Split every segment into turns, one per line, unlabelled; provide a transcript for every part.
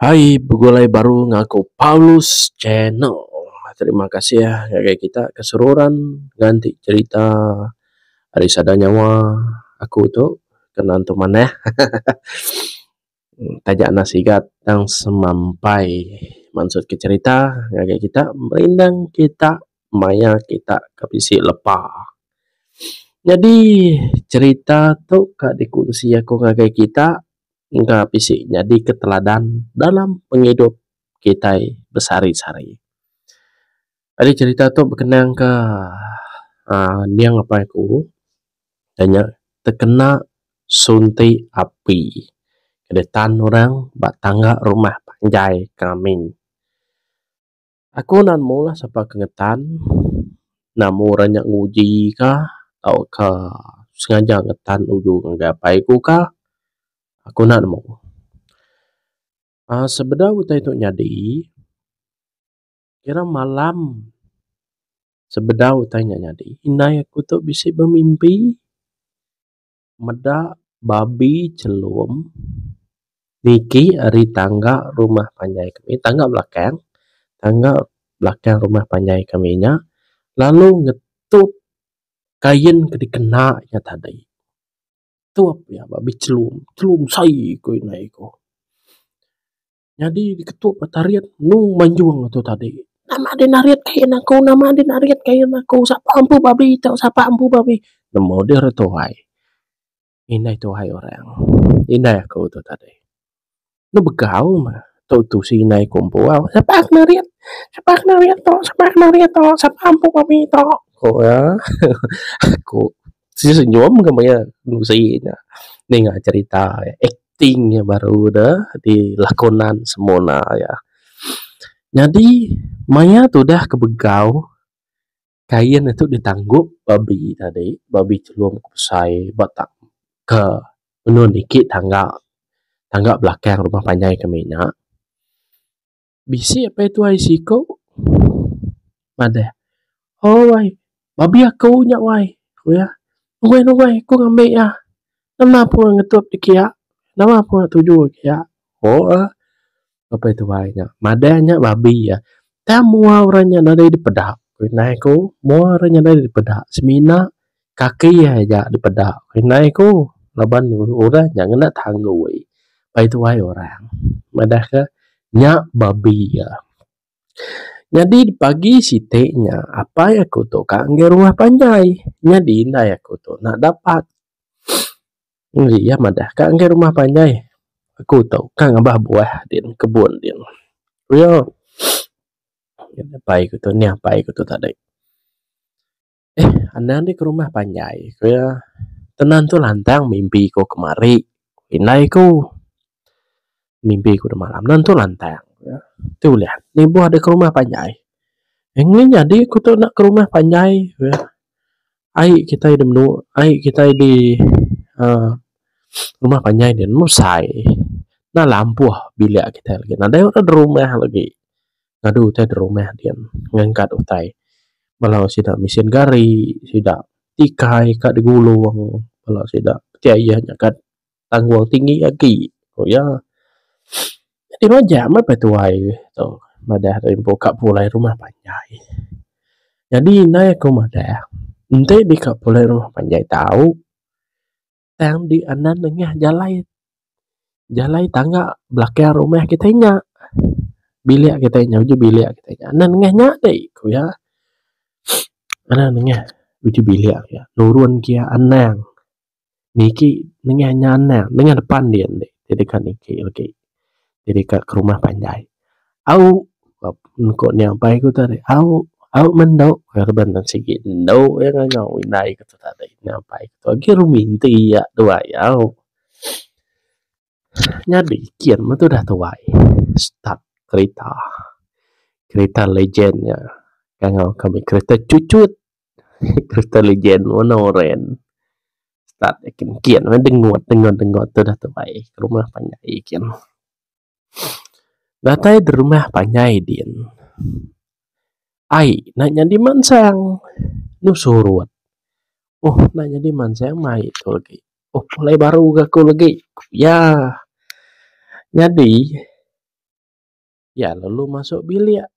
Hai begulai baru ngaku Paulus channel. Terima kasih ngagai kita ke seruran nganti cerita ari sada nyawa aku tu ke nentu manah. Taja enda sigat tang semampai mansut ke cerita ngagai kita merindang kita maya kita ke bisi lepa. Nyadi cerita tu ka dikunsi aku ngagai kita engka bisi nyadi keteladan dalam pengidup kitai besehari-sehari. Ari cherita tu bekenang ke aaa ending apai aku iya nya tekena sunti api ditan orang ba tangga rumah panjai ke amin. Aku nan meh ulah sapa ke ngetan enda meh orang nya nguji ka tauka sengaja ngetan uju ngagai apai ku ka aku enda nemu aaa sebedau utai tu nyadi kira malam sebedau utai nya nyadi indai aku tu bisi bemimpi. meda babi chelum niki ari tangga rumah panjai kami tangga belakang tangga belakang rumah panjai kami nya lalu ngetup kain ke dikena iya tadi tup iya babi chelum chelum sai ku ina iku. Nyadi diketu petarit enu manjung atu tadi. Nama deh narit ke ain aku nama deh narit ke ain aku sapa empu babi tu sapa empu babi nemu deh re tuai indai tuai orang indai aku tu tadi enu begau meh tu tusi indai aku empu au sapa ke narit sapa ke narit tu sapa ke narit tu sapa empu babi tu ku iya aku senyum ke maya tusi nya ninga cherita ek. ting iya baru ne dilakonan semina iya. Nyadi maya tudah ku begau kain ne tu ditanggup babi tadi babi chelum ku besai ba tak ka nehen iti tangga tangga belakang rumah panjai kami nya. Bisi apai tuai siku madah, O wai, babi aku nya wai, ku iya. Nuai nuai aku ngambi iya. Nama pun ngetup dek iya. Nama pun tuju dek iya. Ko ah apai tuai nya. Madah nya babi iya. Tang mua orang nya nadai dipeda. Ku inai ku, mua orang nya nadai dipeda. Semina kaki iya aja dipeda indai ku laban orang nya ngena tanggoi pai tuai orang madah ke nya babi iya. Nyadi pagi siti nya apai aku tu ka ngagai rumah panjai nyadi indai aku tu enda dapat jaji iya madah ka ngagai rumah panjai aku tu ka ngabah buah din kebun din ku iya. Apai aku tu nih apai aku tu tadi. Ehh anang nih ke rumah panjai ku iya. Tenan tu lantang mimpi ku ke mari indai ku. Mimpi ku deh malam nan tu lantang ku iya. Tu ulih nubuh adeh ke rumah panjai. Ngin nyadi ku tu enda ke rumah panjai ku iya. Ai kitai deh menu ai kitai di uhh rumah panjai nih meh sai. Nan lah ampuh bilik kitai lagi nadai rak ada rumah lagi. ngadu utai da rumah din ngangkat utai bala sida mesin gari sida tikai ka da gulong bala sida ti aye ngagan tanggung tinggi agi ku iya ti majak meh pa tuai tu madah rimpu ka pulai rumah panjai nyadi indai aku madah enti deka pulai rumah panjai tau. tang di anan nengah jalai, jalai tangga belakang rumah kitai nya. Bilik kitai nya uji bilik kitai nya anan nengah nya dei ku iya. Anan nengah uji bilik ku iya. Nurun ku iya anang. Niki nengah nya anang, nengah depan dei ende deka niki legi. jadi ka ke rumah panjai au ko nya bai ku tadi au au mendo reban ne sigi endo iya ngau indai ku tu tadi nya bai ku agi rumi ti iya tu ayau nyadi kin meh tu dah tuai stuck kerita kerita legen nya ngau kami kerita chuchut. Crystal Legend warna oren. Start nya kin kian angai dengut denga denga tu dah tu bai ke rumah panjai kin. Datai di rumah panjai din ai nya nyadi mansang nu surut. Ohh nya nyadi mansang mai tu agi. Ohh pulai baru ga ku lagi. Ku iya. Nyadi. Iya lalu masuk bilik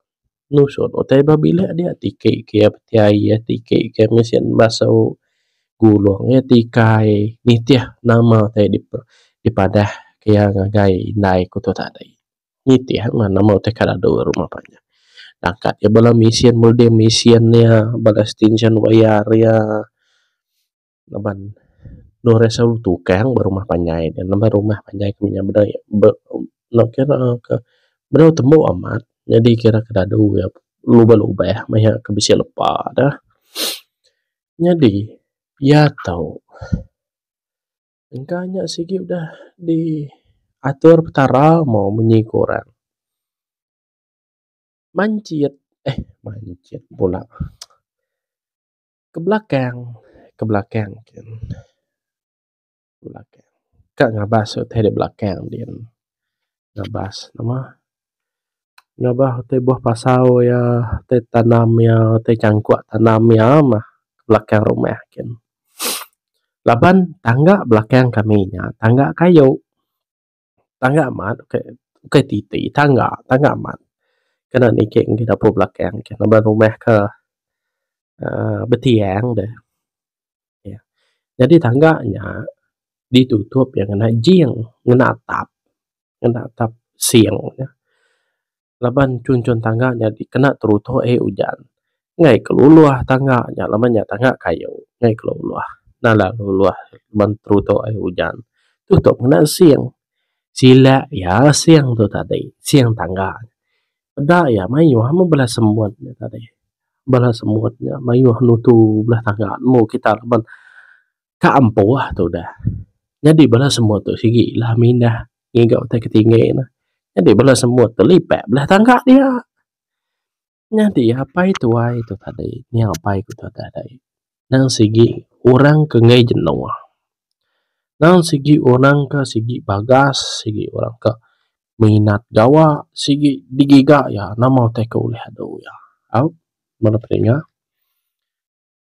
nusut utai ba bilik dia tiki ke iya petai iya tiki ke iya mesen basu gulong iya tikai nitih nama utai dipadah ke iya ngagai indai ku tu tadi nitih mah nama utai ka dadu rumah pa nya akat iya bala mesen mudih mesen iya bala stension wayar iya. ngeban Noh Resau Tukang ba rumah panjai ne nambah rumah panjai ku nya bedau iya be nok kira ka bedau tembu amat nyadi kira ka dadu iya lubeh lubeh meh iya ke bisi lepa deh nyadi iya tau engka nya sigi udah di atur petara maw munyi ku orang manjit eh manjit pula. Ke belakang, ke belakang gin. Ke belakang. Ka ngabas utai da belakang din. Ngabas ne mah. Ngabas utai buah pasau iya, utai tanam iya, utai changkok tanam iya mah ke belakang rumah gin. Laban tangga belakang kami nya tangga kayu. Tangga amat ukai ukai ti ti tangga tangga amat kena niki ngagai dapur belakang ke ngaban rumah ke uhh betiang deh iya nyadi tangga nya ditutup iya ngena jing ngena atap ngena atap sing. laban chunchun tangga nya dikena teruto ai ujan ngai ke luluh tangga nya laban nya tangga kayu ngai ke luluh nala luluh laban teruto ai ujan tu tok ngena sing sila iya sing tu tadi sing tangga peda iya mayuh meh bala semut nya tadi bala semut nya mayuh nutu bala tangga nemu kita laban Ka ampuh tu udah. Nyadi bala semut tu sigi lah mindah ngiga utai ke tinggi ne. Nyadi bala semut tu lipat bala tangga dia. Nyadi apai tuai tu tadi nya apai ku tu tadi nang sigi orang ke enggai jenuh. Nang sigi orang ke sigi bagas, sigi orang ke minat gawa, sigi digiga iya nama utai ke ulih adu iya. Au bala pedinga.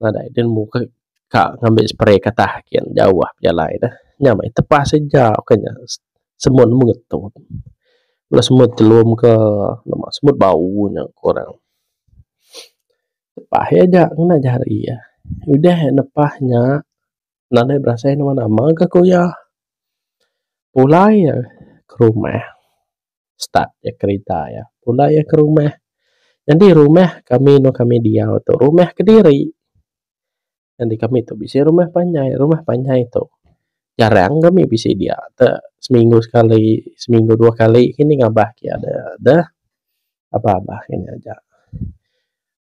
nadai den muka ka ngambi spray katah kian jauh pejalai ne nya meh tepas ija ka nya semut meh ngetu bala semut chelum ka namba semut bau nya ku orang tepas iya ja ngena jari iya udah iya nepas nya nadai berasai nama nama ka ku iya pulai iya ke rumah. start iya kerita iya pula iya ke rumah nyadi rumah kami eno kami diau tu rumah kediri nyadi kami tu bisi rumah panjai rumah panjai tu jarang kami bisi dia te seminggu sekali seminggu dua kali kini ngabah kia de deh aba aba kini aja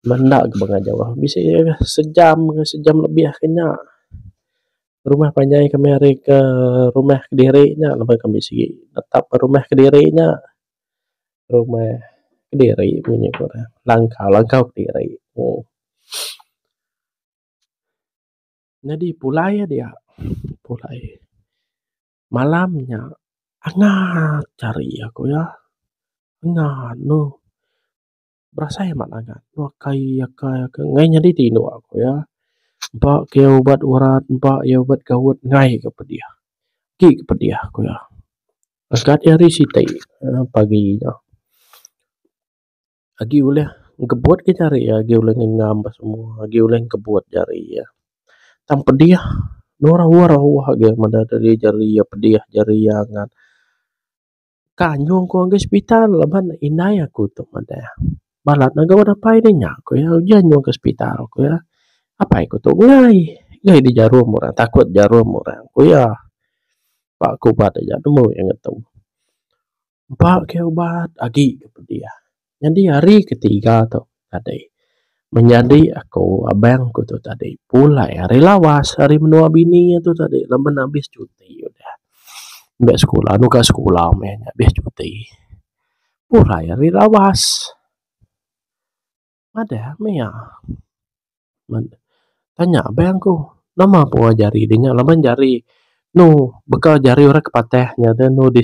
menda ke bengah jauh bisi sejam sejam lebih ke nya. rumah panjai kami ari ke rumah kediri nya laban kami sigi netap ke rumah kediri nya rumah kediri bunyi ku re langkau langkau kediri uhh. Nyadi pulai iya dia pulai malam nya angat cari aku ya angat ne. berasai amat angat tua kai akai ke ngai nyadi ti inu aku iya empa ke ubat urat empa iya ubat gaut ngai ke pedih ti ke pedih ku iya skat iya hari siti pagi nya agi ulih ngebut ka jari iya agi ulih ngengam ka semua agi ulih ngebut jari iya tang pedih nurau rau agi meda jari iya pedih jari iya angat. ka nyung ku ngagai sepital laban indai aku tu madah balat ne gawa dapai deh nya ku iya ujan nyung ka sepital ku iya apai ku tu enggai enggai deh jarum orang takut jarum orang ku iya ba ke ubat aja nemu iya ngetu empa ke ubat agi ke pedih. Nyadi hari ketiga tu tadi menyadi aku abang ku tu tadi pulai ari lawas ari menua bini iya tu tadi laban ne abis cuti udah meh sekula muka sekula meh nya abis cuti pulai ari lawas madah meh iya tanya abang ku nama pun jari inya laban jari anu baka jari orang ke patah nya tu anu di.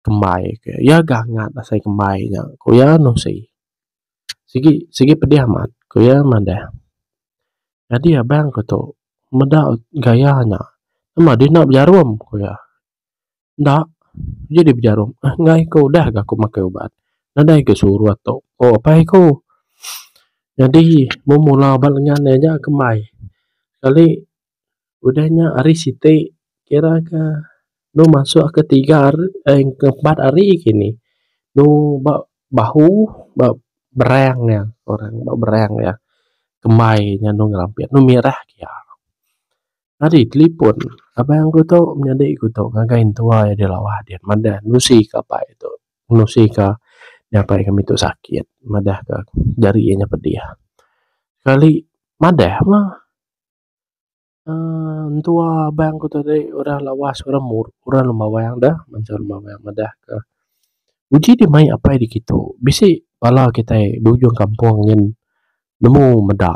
kembai ke iya gangat asai kembai nya ku iya anu seh sigi sigi pedih amat ku iya madah nyadi abang ku tu meda gaya nya mba deh enda bejarum ku iya enda uji deh bejarum enggai ku udah ga ku makai ubat nadai ga surut tu ku apai ku nyadi mung mula ba lengan iya nya kembai sekali udah nya hari siti kira ka dua masu ka tiga hari aaa ke empat hari kini lu ba bahu ba berang nya orang ba berang nya kembai nya anu ngerampit anu mirah ke iya. Nyadi talipon abang ku tu nyadi ku tu ngagai intua iya di Lawah din madah ngusi ka pai tu ngusi ka nyapai kami tu sakit madah ka jari iya nya pedih sekali madah mah. uhh entua abang ku tadi udah lawas urang mu urang lun bawang deh bansa lun bawang madah ke uji ti mayuh apai dikitu bisi bala kitai di ujung kampung nyin nemu meda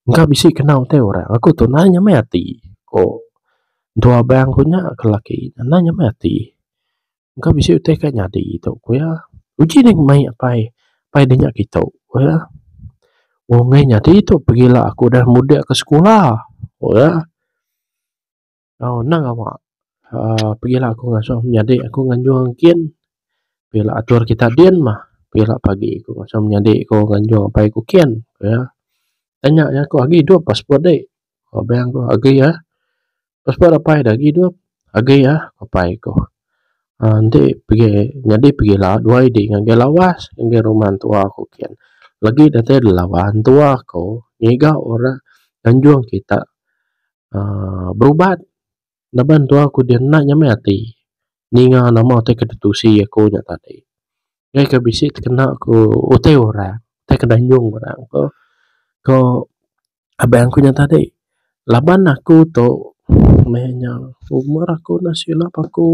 engka bisi kena utai urang aku tu naih nyamai ati ku entua abang ku nya ke laki ne naih nyamai ati. engka bisi utai ka nyadi tu ku iya. Uji nya meh apai, apai deh nya kitu ku iya. Wang meh nyadi tu pegila aku udah mudip ka sekula ku iya. Au nang awa aaa pegila aku ngasuh menyadi aku nganjung engkin pegila atur kita din mah pegila pagi ku ngasuh menyadi ku nganjung apai ku kin ku iya. Tanya iya ku agi dep passport dek. Abang ku agi ah. Passport apai dah agi doh. Agi ah apai ku. Aaa enti pigi nyadi pigila dua id ngagai lawas ngagai rumah entua ku kian. Lagi datai da lawas entua ku ngiga ora anjung kita aaa berubat laban entua ku dia enda nyamai ati ninga nama utai ke ditusi aku nya tadi. Ngei ka bisi tekena ku utai orang, utai ke danjung orang ko ko. Abang aku nya tadi laban aku tu meh nya umur aku enda silap aku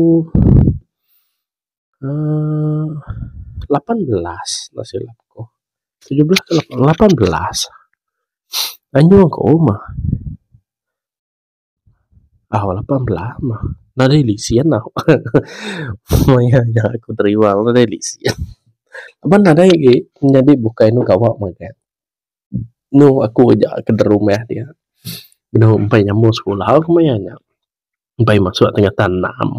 uhh lapan belas enda silap aku tujuh belas ke lapan belas anyu aku meh. Au lapan belah mah nadai lesen au maya nya aku terima nadai lesen laban nadai agi nyadi bukai anu gawa mega anu aku aja ke da rumah dia anu empai nyambung sekula ku maya nya empai masu tengah tan enam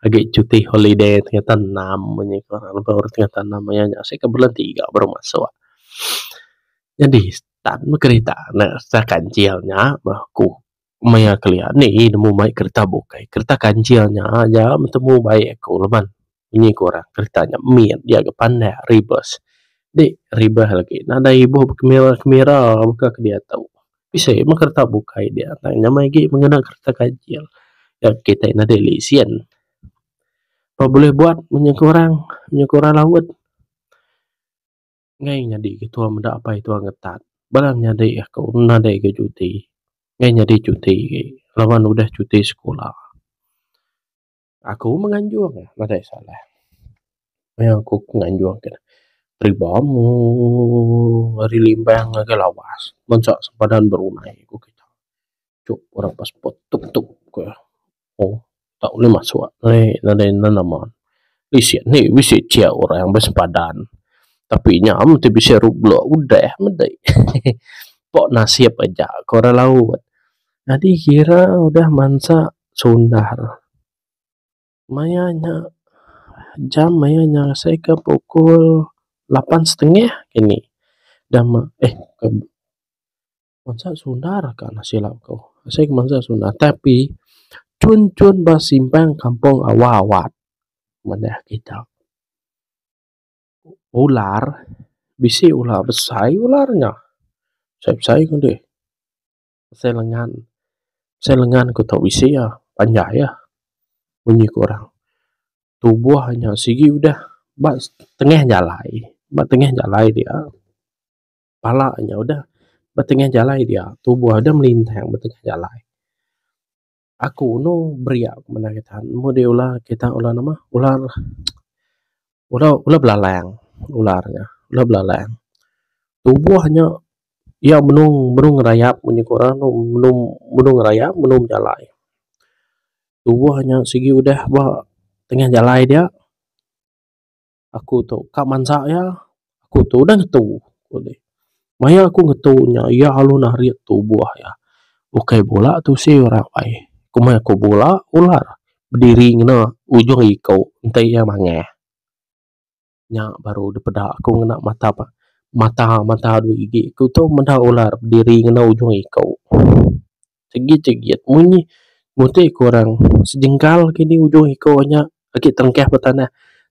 agi cuti holiday tengah tan enam nya ku tengah tan enam maya nya seh ka bulan tiga baru masu. Nyadi. Tan meh kerita ne kereta kancil nya meh ku maya kelia nih ih nemu mai kereta bukai kereta kancil nya aja betemu baik ku leban nyi ku orang kereta nya mit dia ga pandak ribas dik ribas lagi nadai ibuh kemira kemira baka ke diatu bisi meh kereta bukai dia tang nyamai agi ngena kereta kancil nya kitai nadai lesen pa bulih buat nyi ku orang nyi ku orang laut. Ngai nyadi ke tuan meda apai tuan ngetat bala ne nyadi aku nadai ga cuti ngai nyadi cuti ge laban udah cuti sekula. Aku meh nganjung nadai salah maya ku nganjung ke peribau meh ari limbang ngagai lawas ngancak sempadan berumai ku kita. Cuk orang passport tuk tuk ku. Ohh tak ulih masuk alai nadai nan nama bisi nya bisi aja orang besempadan tapi nya mesti bisi rublo udah meda hehe pok nasib aja ku orang laut nyadi kira udah mansa sundar maya nya jam maya nya asai ka pukul lapan setengah kini dah ma eh. Bansa sundar ka anak sila ku asai ku bansa sundar tapi chun chun ba simpang kampung awak awak manah kita. Ular bisi ular besai ular nya besai besai ku deh asai lengan asai lengan ku tau bisi ya panjai ya bunyi ku orang tubuh nya sigi udah ba tengah jalai ba tengah jalai dia. pala nya udah ba tengah jalai dia tubuh deh melintang ba tengah jalai. Aku inu beria ku menda kita mung deh ular kita ular nama ular ular ular belalang ular nya ular belalang tubuh nya iya benung benung ngerayap mun iku orang tu benung benung ngerayap benung bejalai. Tubuh nya sigi udah ba tengah jalai dia. aku tu ka mansa iya aku tu udah ngetu ku deh maya aku ngetu nya iya alu narit tubuh iya ukai bula tusi ora apai komai ku bula ular bediri ngena ujung iko entai iya mangah nya baru dipeda ku ngena mata pa mata mata dua gigi ku tu meda ular bediri ngena ujung iko. Tegit tegit munyi mutih ke orang sejengkal kini ujung iko nya agi tengkah ba tanah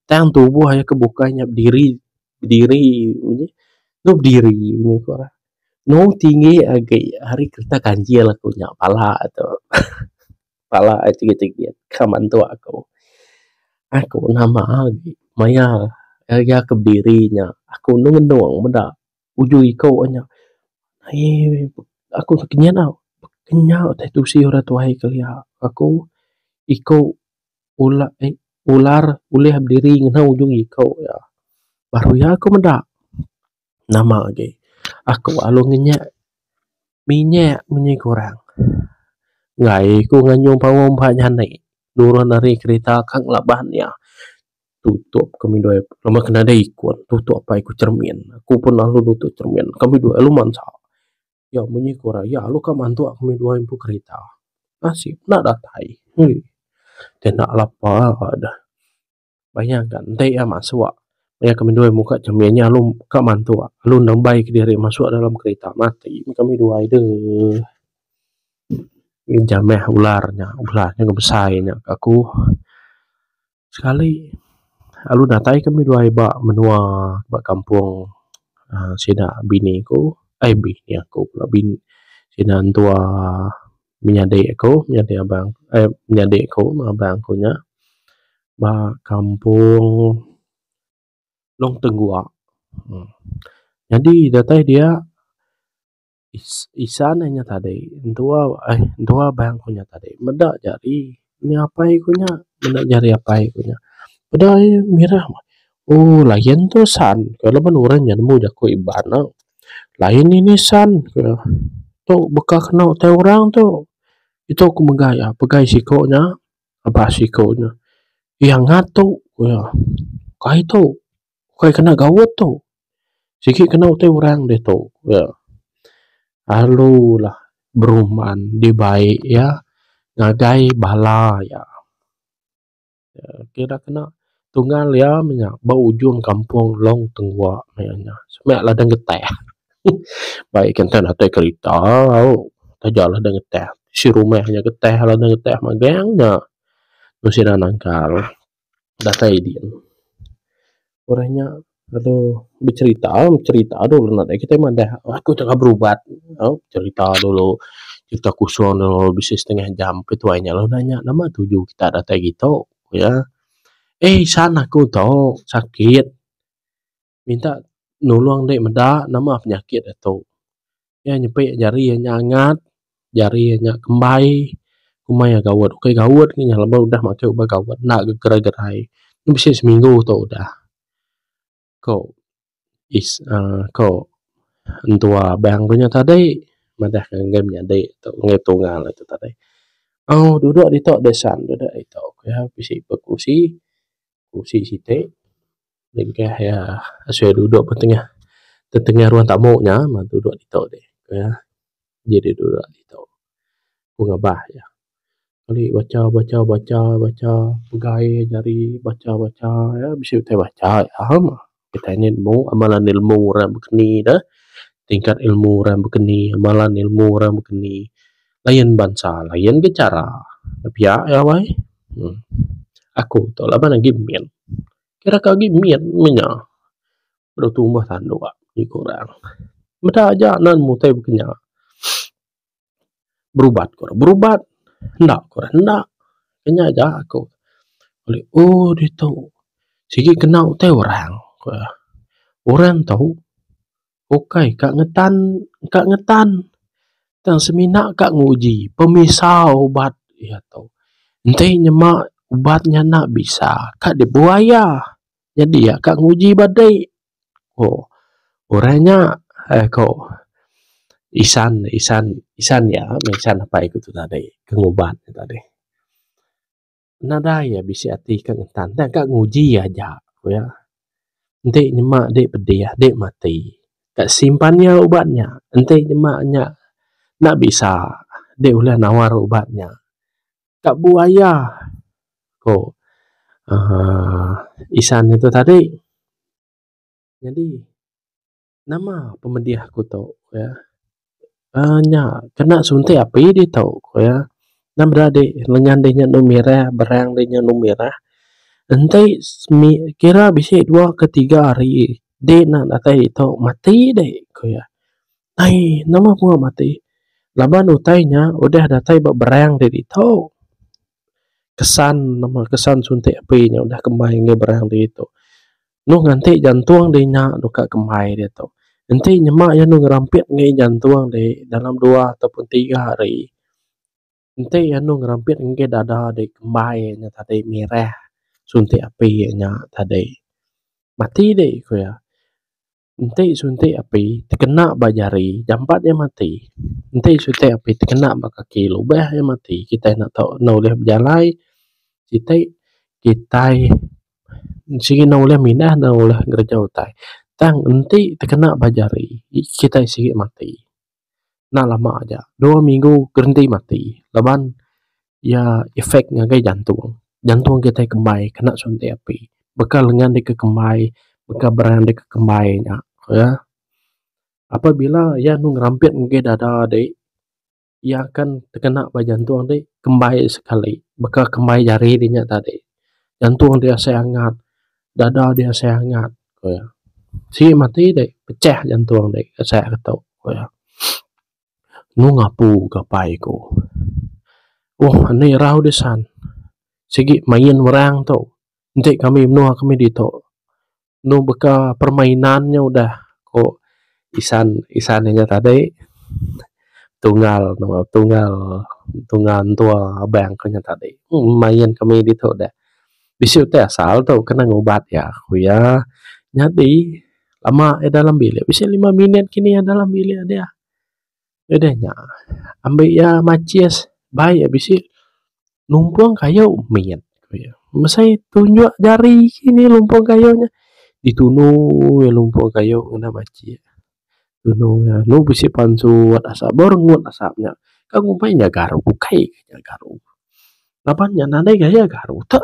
tang tubuh aye ke bukai nya bediri bediri munyi dok bediri mung iko lah no tinggi agi ari kereta ganjil aku nya pala tu pala aye tegit tegit ka mantu aku aku nama agi maya agi aku bediri nya aku nundong meda. Ujoi iko wak nya aie aku tu kinya tau kinya utai tusi orang tuai kelia aku iko ula eh ular ulih berdiri ngena ujung iko iya baru iya aku meda nama agi aku lalu ngenyek minyek munyi kurang ngai ku nganyung pao empa nyane nurun ari kereta ka ngelabah nia. Tutup kami dua apai laban ke nadai ikun tutup apai ku cermin. Aku pun lalu nutup cermin kami dua lalu mansa. Nya munyi ku orang iya lalu ka mantuk kami dua empu kerita. Nasib enda datai ui deh enda lapa deh bayang ka enti iya masuk iya kami dua muka cermin nya lalu ka mantuk lalu nembai kediri masuk dalam kerita mati meh kami dua aduh. Ija meh ular nya ular nya besai nya ka aku. Sekali alu datai ke ami duai ba menua ba kampung uhh sida bini ku uhh bini aku pula bini sida entua menyadi aku menyadi abang uhh menyadi aku meng abang ku nya ba kampung Long Tenggua uhh nyadi datai dia. isan eh nya tadi entua eh entua bah ku nya tadi meda jari nya apai ku nya meda jari apai ku nya peda aie mirah meh ooh layan tu san ku laban orang nya nemu jaku Iban na layan ini san ku iya tu baka keno tai orang tu itu ku mega iya pegai siko nya aba siko nya iya ngatu ku iya kai tu. ukai kena gaut tu sigi kena utai orang ditu ya alu lah beruman dibai iya ngagai bala iya ira kena tungal iya mah nya ba ujung kampung Long Tengwa maya nya seme ladang geteh bai kitai natai kerita au taja ladang geteh bisi rumah inya geteh ladang geteh magang nya mung sida nangkal. datai din. Orang nya lalu becherita, becherita dulu anak dia. Kitai madah aku tengah berubat. Au becherita dulu. Cherita kusung dulu bisi setengah jam. Lepas tu ai inya lalu nanya nama tuju kita datai ditu. Ku iya, Eh isan aku tu sakit. minta nulung dek meda nama penyakit e tu. Iya nyepi jari iya nya angat, jari iya nya kembai, komai iya gaut. Ukai gaut nya nya laban udah makai ubat gaut enda ga gerai gerai. Mung bisi seminggu tu udah ko is uhh ko entua abang ku nya tadi madahka ngagai menyadi tu ngagai tunggal e tu tadi. Au dudok ditu deh san, dudok ditu. Ku iya bisi berusi, berusi siti. Nengkah iya asai dudok ba tengah tetengah ruang tamu nya meh dudok ditu di iya. Ji di dudok ditu ku ngabah iya. Keli bacha bacha bacha bacha pegai nyadi bacha bacha iya bisi utai bacha iya meh. Kitai nya ilmu amalan ilmu orang baka ni dah. Tingkat ilmu orang baka ni amalan ilmu orang baka ni layan bansa layan bichara. Pia iya wai. Aku tu laban agi min. Kira ke agi mit meh nya. Dau tumbah tandu agi ku orang. Meda aja nan mutai baka nya. Berubat ku orang berubat. Enda ku orang enda. Ku nya aja ku. Oh ditu. Sigi kena utai orang. Orang tu. Ukai ka ngetan ka ngetan tang semina ka nguji pemisau ubat iya tu. Enti nyema ubat nya enda bisa ka dibuai iya nyadi iya ka nguji ba dei ko orang nya ai ko isan isan isan iya meh isan apai ku tadi ke ngubat tadi. nadai iya bisi ati ka ngetan enda ka nguji aja ku iya enti nyema dek pedih dek mati ka simpan iya ubat nya enti nyema nya enda bisa dek ulih nawar ubat nya ka buaya ko uhh isan nutu tadi nyadi. Nama pemedih aku tu ku iya. Uhh nya kena suntik api ditu ku iya. Nama dadi lenyan deh nya enu mirih berang deh nya enu mirih. Enti semi kira bisi dua ke tiga hari deh ena datai ditu mati deh ku iya. Ai nama pengah mati laban utai nya udah datai ba berang deh ditu. kesan nama kesan suntik api nya udah kembai ngagai barang agi tu mung nganti jantung di nya dok ka kembai agi tu enti nyema iya anu ngerampit ngagai jantung di dalam dua atau pun tiga hari enti iya anu ngerampit ngagai dada di kembai nya tadi mireh suntik api nya tadi mati di ku iya. Enti suntik api tekena ba jari jampat iya mati, enti suntik api tekena ba kaki lubeh iya mati kitai enda tau enda ulih bejalai siti kitai sigi enda ulih mindah enda ulih ngereja utai tang enti tekena ba jari kitai sigi mati. enda lama aja dua minggu gerenti mati laban iya effect ngagai jantung, jantung kitai kembai kena suntik api bekal lengan deka kembai bekal beran deka kembai nya ya apabila iya anu ngerampit ngagai dada ti iya akan tekena ba jantung ti kembai sekali baka kembai jari ti nya tadi jantung ti asai angat dada ti asai angat. ku iya. Sik mati dek pecah jantung dek asai ke tu ku iya. Enu ngapu ga pai ku. Ohh ande rau disan sigi main orang tu enti kami menua kami ditu enu baka permainan nya udah ku isan isan inya tadi tunggal tunggal tunggal entua abang ku nya tadi. Main kami ditu dek. bisi utai asal tu kena ngubat iya. Ku iya nyadi lama iya dalam bilik bisi lima minit kini iya dalam bilik dia. Udah nya ambi iya maches bai iya bisi numpong kayu mit ku iya. Masa iya tunjuk jari kini numpong kayu nya ditunu iya numpong kayu ngena maches. Tunung iya anu bisi pansu wat asap bau rengut asap nya. Ka ngumbai inya garu ukai ka inya garu. Laban nya nadai gaya garu tu.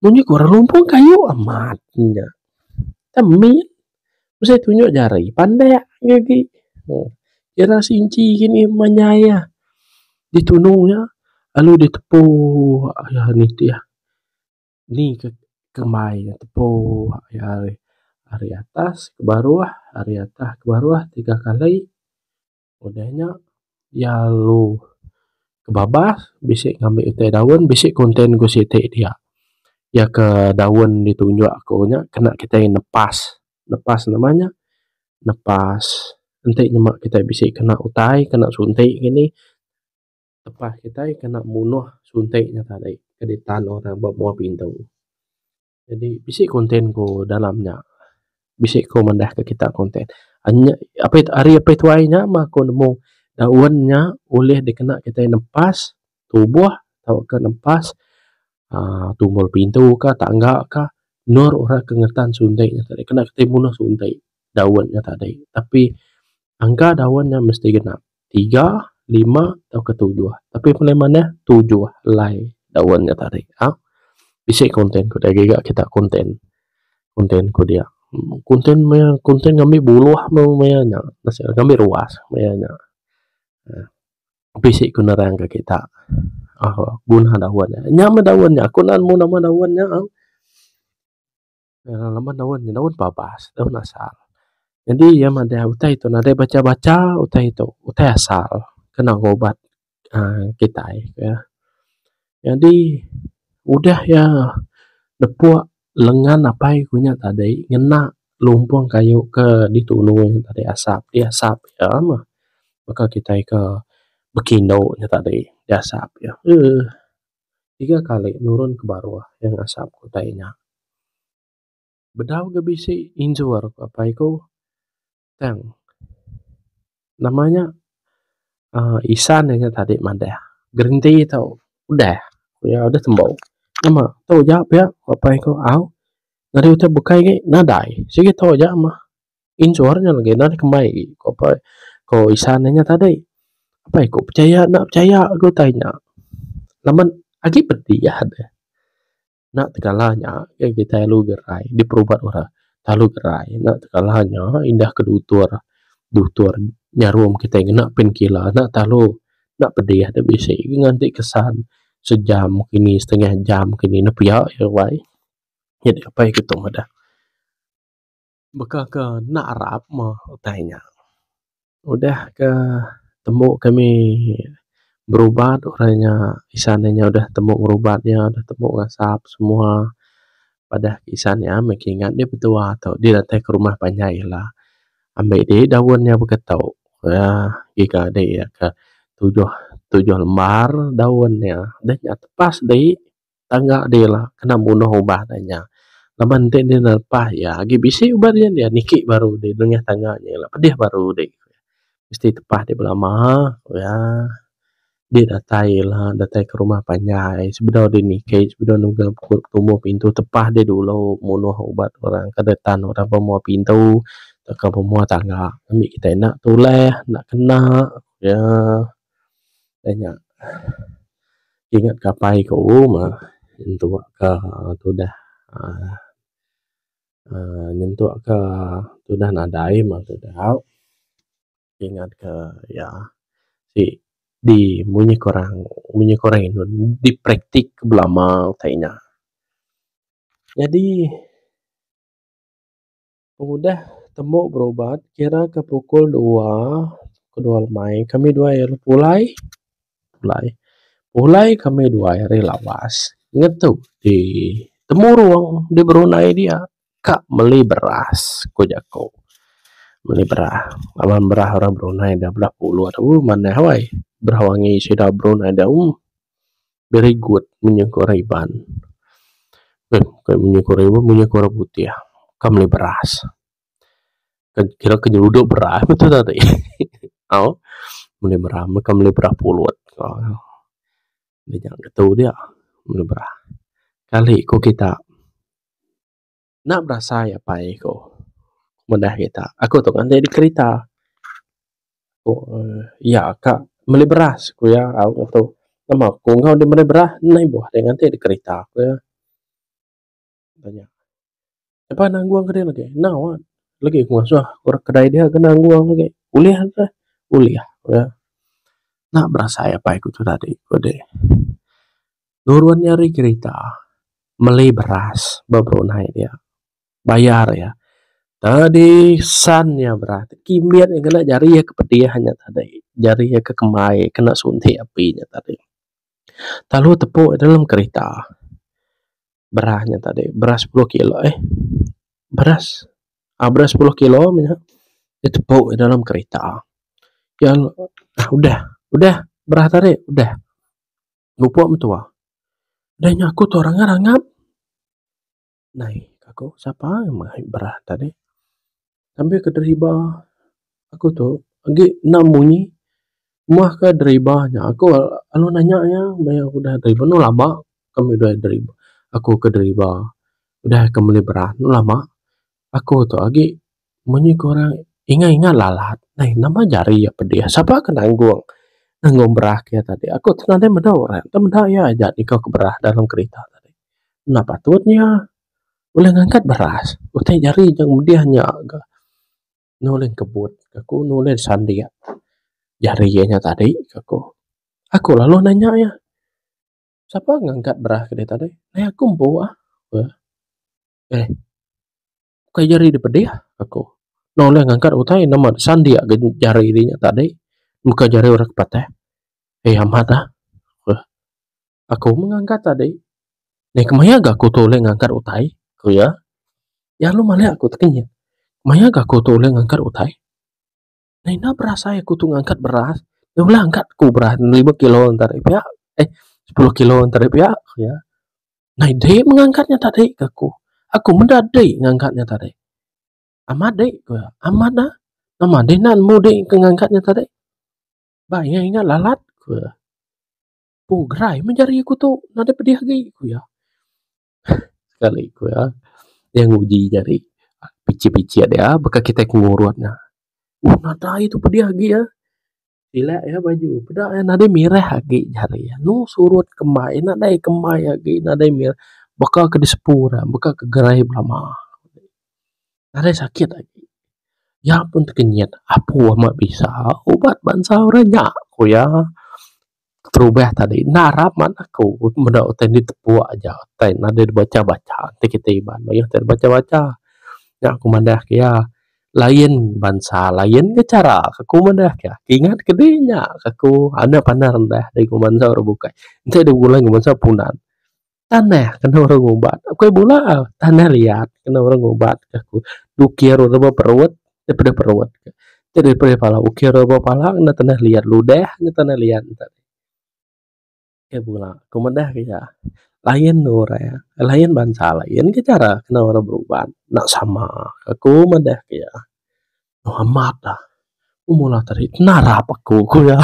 Munyi ku orang lumpun kayu amat inya. Ka min mesti tunjuk jari pandak nya agi. Meh ira sinci kini manyai iya. Ditunung iya lalu ditepu nitih. Indi ka kemai inya tepu ari atas ke baruh ari atas ke baruh tiga kali udah nya iya lalu ke babas bisi ngambi utai daun bisi content ku siti dia iya ke daun ti tunjuk aku nya kena kitai nepas nepas nama nya nepas enti nyema kitai bisi kena utai kena sunti ngini. Tepah kitai kena munuh sunti nya tadi ke ditan orang ba mua pintu. Jadi bisi konten ku dalam nya. Bisi ku manah ke kita konten. Anyap ape ari ape tuai nya mah ku nemu daun nya ulih dikena kitai nempas tubuh tauka nempas aaa tumbul pintu ka tangga ka nur ora ke ngetan sunti nya tadi. Kena kitai munuh sunti daun nya tadi. Tapi angka daun nya mesti genap. tiga, lima tauka tujuh. Tapi paling manah tujuh alai daun nya tadi. Au bisi content ku dia giga kita content. Content ku dia. Content maya content ngambi buluh meh maya nya. Ngambi ruas maya nya. uhh bisi ku nerang ke kita uhh guna daun nya. Nya meh daun nya. Aku nemu nama daun nya au. uhh lema daun nya daun babas daun asal nyadi iya madeh utai ito nadai bacha bacha utai ito utai asal kena ga ubat uhh kitai uhh nyadi udah iya nepuk lengan apai ku nya tadi ngena lumpung kayu ke ditunu nya tadi asap di asap iya mah baka kitai ke bekindo nya tadi di asap iya uhh. tiga kali nurun ke baruh iya ngasap ku utai nya. Bedau ga bisi injur ku apai ku tang nama nya uhh isan inya tadi madah gerenti tu udah ku iya udah tembu nama tau ja pia ku apai ku au ngeri utai bukai agi nadai sigi tau ja mah. injor nya legi enda deh kembai agi ku apai ku isan inya tadi apai ku pechaya enda pechaya ku utai nya laban agi pediah deh enda tegala nya ngin kitai ulu gerai diperubat orang lalu gerai enda tegala nya indah ke dutur dutur nyarum kitai ngena pain killer enda telu enda pedih deh bisi ngan ti kesan sejam kini setengah jam kini ne pia iya wai nyadi apai ku tu meda. baka ke enda arap meh utai nya. Udah ke tembu kami berubat orang inya isan inya udah tembu berubat iya udah tembu ngasap semua padah isan iya meh kingat deh betua tu deh datai ke rumah panjai ila ambi deh daun iya baka tu uhh ngiga deh iya ka tujuh tujuh lembar daun iya deh nya tepas deh. tangga deh ila kena munuh ubah deh nya laban enti deh lepa iya agi bisi uban nya deh niki baru deh nengah tangga nya ila pedeh baru deh mesti tepa deh belama ku iya deh datai ila datai ke rumah panjai sebedau deh niki sebedau deh nunggang tumu pintu tepa deh dulu munuh uban orang ke deh tan orang pemua pintu tauka pemua tangga ami kitai enda tuleh enda kena ku iya. Nya ingat kapai ku meh intua ka tudah aaa aaa nyentuk ka tudah nadai meh tu tau ingat ka iya ti di mung nyih kurang mung nyih kurang indu di praktik belama utai nya. Nyadi. Pengudah tembu berubat kira ke pukul dua kedua lemai kami dua ari pulai pulai pulai kami dua ari lawas ngetu di temurong di berundai dia ka meli beras ku jaku meli beras laban beras orang berundai da bela pulut ooh manah wai beras wangi sida berundai da ooh. Very good munyi ku orang Iban. Beh, bukai munyi ku orang Iban, munyi ku orang putih. Ka meli beras. Kan kira ke nyeruduk beras betul tak ti? Au. Meli beras, ka meli beras pulut. Au. Dia nyang ke tu dia. Meli beras. Kali ku kita. Enda berasai apai ku meda kita. Aku tu nganti di kerita. Ku uhh iya ka meli beras ku iya au ngan tu. Nama ku enggau deh meri beras endai ibuh deh nganti di kerita ku iya. Ku nya. Eba nanggung kadi legi. Enda wak legi ku ngasuh orang kedai dia ke nanggung legi. Ulih deh. Ulih ku iya. Enda berasai apai ku tu tadi ku deh. Nurun iya ari kerita meli beras ba perunai dia bayar iya tadi sen iya beras tu kimet iya ngena jari iya ke pedih nya tadi jari iya ke kembai kena sunti api nya tadi telu tepu iya dalam kerita beras nya tadi beras sepuluh kilo eh beras ah beras sepuluh kilo mene iya tepu iya dalam kerita iya udah udah beras tadi udah. Mupok mentua. Deh nya aku tu ranga rangap. Nai ka ku sapa meh berah dak deh. Ambi ke deriba aku tu agi enda munyi. Meh ke deriba nya aku lalu nanya iya meh aku udah deriba enu lama kami udah deriba. Aku ke deriba udah ke meli berah enu lama. Aku tu agi munyi ku orang ingat ingat lalat ai nama jari iya pedih sapa ke nanggung nanggung berah ke iya tadi aku tu nadai meda orang enta meda iya aja nyungkau aku berah dalam kerita tadi enda patut inya buleh ngangkat beras utai jari dep mudih nya ga nulih kebut ka ku nulih sandi jari inya tadi ka ku aku lalu nanya iya sapa ngangkat berah ke dia tadi ai aku empu ah. Eh, ukai jari dep pedeh, aku noleh ngangkat utai ne amat sandik ga jari deh nya tadi, muka jari orang ke pateh. Eh amat ah, ku iya. Aku meh ngangkat tadi. Neh kemaya ga aku tu ulih ngangkat utai? ku iya. Iya lalu malik aku ti kinyit. Maya ga aku tu ulih ngangkat utai? Nah enda beras ai aku tu ngangkat beras dah bela angkat ku beras lima kilo nta deh pia eh sepuluh kilo nta deh pia ku iya. Nah inde meh ngangkat nya tadi ku aku. Aku meda dei ngangkat nya tadi. Amat dei ku iya, amat dah. Nama deh nan mu dei ke ngangkat nya tadi. Ba iya inda lalat ku iya. Pu gerai meh jari aku tu nadeh pedih agi ku iya. sekali ku iya iya nguji jari picit picit iya baka kitai ku ngurun ne oh nadai tu pedih agi iya sila iya baju peda iya nadai mirih agi jari iya mung surut kembai nadai kembai agi nadai mirih baka ke disepu ne baka ke gerai belama nadai sakit agi iya pun tekenyit apu amat bisa ubat bansa orang nya ku iya. terubah tadi enda arap man aku meda utai indi tepuk aja utai enda deh dibacha bacha ti kitai iban mayuh utai dibacha bacha nya ku manah ke iya lain bansa lain ga chara ke ku manah ke iya ingat ke di nya ka ku ande pandai rendah dari ku bansa ora bukai enti dep bepulai ku bansa punan. Tanah kena orang ngumbat aku ai bula tanah liat kena orang ngumbat ke aku ukir ora ba perut daripada perut ke nya daripada pala ukir ora ba pala ngena tanah liat ludah ngena tanah liat enta ai bula ku meda ke iya lain orang lain bansa lain ke chara kena orang berubat enda sama aku meda ke iya meh amat ah meh mula tadi narap aku ku iya.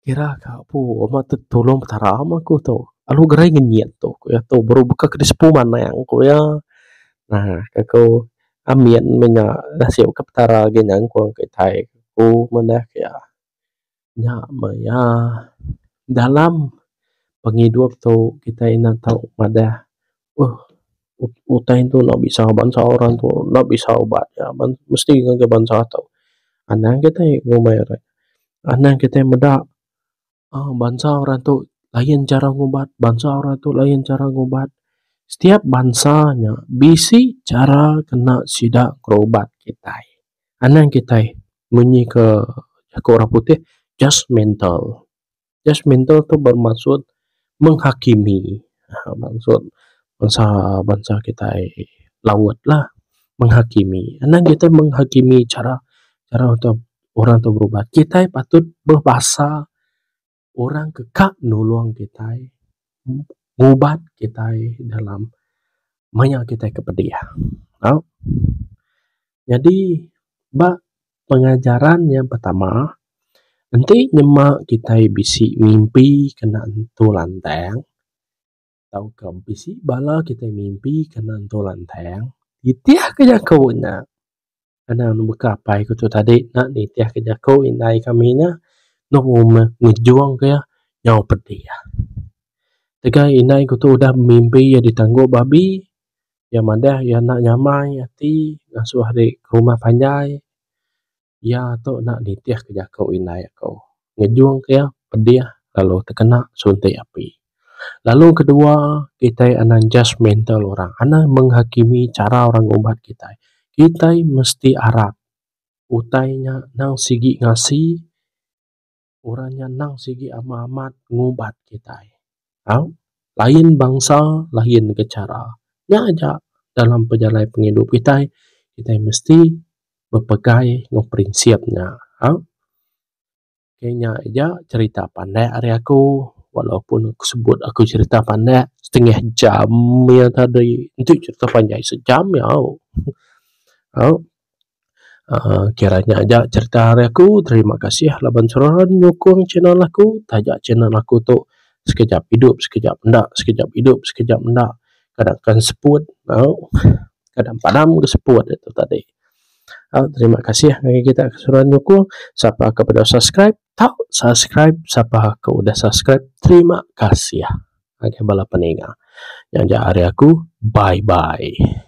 Kira ka apu ama tu tulong petara ama ku tu lalu gerai ngenyit tu ku iya tu baru baka ke disepu manang ku iya aaa ka ku amin meh nya nasib ka petara agi nyangkong kitai ku manah ku iya. Nya meh iya dalam pengidup tu kitai ina tau madah uhh utai ento enda bisa bansa orang ento enda bisa ubat nya mesti ngaga bansa tok anang kitai ngumbai rak anang kitai meda uhh bansa orang tok lain chara ngubat bansa orang tok lain chara ngubat setiap bansa nya bisi chara kena sida berubat kitai anang kitai munyi ka jaku orang putih just mental. Judgemental tu bermaksud menghakimi aaa maksud bansa bansa kitai laut lah menghakimi anak kitai menghakimi chara chara tu orang tu berubat. Kitai patut mbuh basa orang ke ka nulung kitai ngubat kitai dalam maya kitai ke pedih. Au. Nyadi ba pengajaran yang pertama enti nyema kitai bisi mimpi kena nentu lantang tauka bisi bala kitai mimpi kena nentu lantang nitih ka jaku nya ena baka apai ku tu tadi nya nitih ka jaku indai ka ami nya ngejung ka iya nyau pedih. Tegai indai ku tu udah bemimpi iya ditangguh babi. Iya madah iya enda nyamai ati ngasuh ari ke rumah panjai. Iya tu enda nitih ke jaku indai aku. Ngejung ke iya pedih lalu tekena suntik api. Lalu ke dua kitai anang judgemental orang. Anang menghakimi cara orang ngumpat kitai. Kitai mesti arap utai nya nang sigi ngasi. Orang nya endang sigi amah amat ngubat kitai. Au, lain bangsa, lain ke chara. Nya aja dalam pejalai pengidup kitai, kitai mesti bepegai enggau prinsip nya. Au, ke nya aja cherita pandak ari aku walaupun aku sebut aku cherita pandak setengah jam iya tadi. Enti cherita panjai sejam iya au. Au. uhh kira nya aja cherita ari aku terima kasih laban selalu nyukung channel aku taja channel aku tu sekejap idup sekejap enda sekejap idup sekejap enda kada ken seput tau kada padam ke seput tu tadi uhh terima kasih ngagai kita ke sudah nyukung sapa ke beda subscribe tau subscribe sapa ke udah subscribe terima kasih ngagai bala peninga nya aja ari aku bye bye.